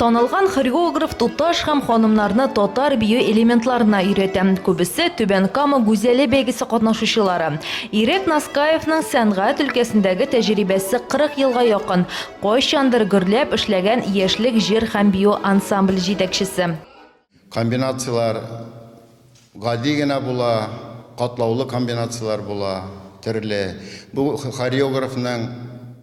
Танылган хореограф туташ һәм ханымнарны татар бию элементларына өйрәтә. Күбесе Түбән Кама гүзәле бәйгесе катнашучылары. Ирек Наскаевның сәнгать өлкәсендәге тәҗрибәсе 40 елга якын, кайчандыр гөрләп эшләгән Яшьлек җыр һәм бию ансамбль җитәкчесе. Комбинацияләр гади генә була, катлаулы комбинацияләр була, төрле. Бу хореографның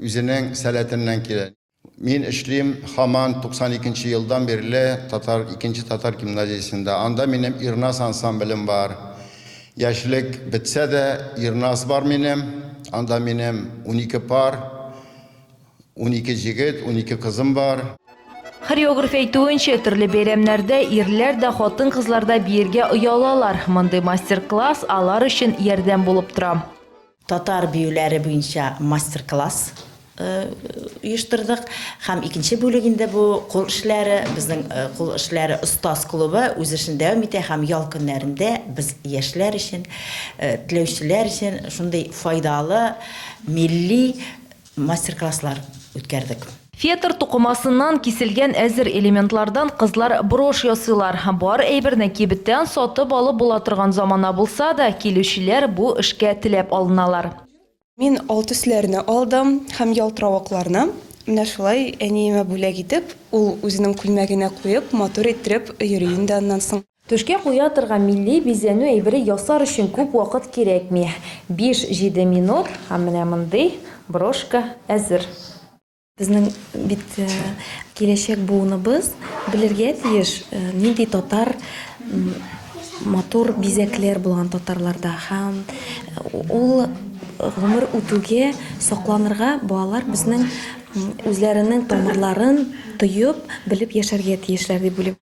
үзенең сәләтеннән килә. Мин эшлим һаман 92 нче елдан бирле татар, икенче татар гимназиясендә. Анда минем Ирназ ансамблем бар. Яшьлек бетсә дә, Ирназ бар минем. Анда минем унике пар. Унике җегет, унике кызым бар. Хореограф әйтүенчә, төрле бәйрәмнәрдә ирләр дә, хатын-кызлар да биергә оялалар. Мондый мастер-класс алар өчен ярдәм булып тора. Татар биюләре буенча мастер-класс оештырдык. Һәм икенче бүлек инде бу кул эшләре. Безнең кул эшләре остаз клубы үз эшен дәвам итә һәм ял көннәрендә без яшьләр өчен, теләүчеләр өчен шундый файдалы, милли, мастер-класслар үткәрдек. Фетр тукымасыннан киселгән әзер элементлардан кызлар брошь ясыйлар. Бар әйберне кибеттән сатып алып була торган замана булса да, килүчеләр бу эшкә теләп алыналар. Мин ал төсләрне алдым һәм ялтыравыкларны, менә шулай әниемә бүләк итеп, ул үзенең күлмәгенә куеп, матур иттереп йөри инде аннан соң. Түшкә куя торган милли бизәнү әйбере ясар өчен күп вакыт кирәкми, биш-җиде минут һәм менә мондый брошка әзер. Безнең бит киләчәк буыныбыз белергә тиеш, нинди татар матур бизәкләр булган татарларда һәм ул гомер үтүгә сакланырга балалар безнең үзләренең тамырларын тоеп, белеп яшәргә тиешләр дип уйлыйм.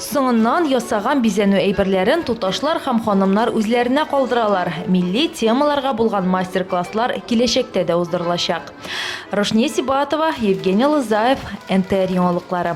Соңыннан ясаган бизәнү әйберләрен туташлар һәм ханымнар үзләренә калдыралар. Милли темаларга булган мастер-класслар киләчәктә дә уздырылачак. Рушния Сибатова, Евгений Лызаев, НТР яңалыклары.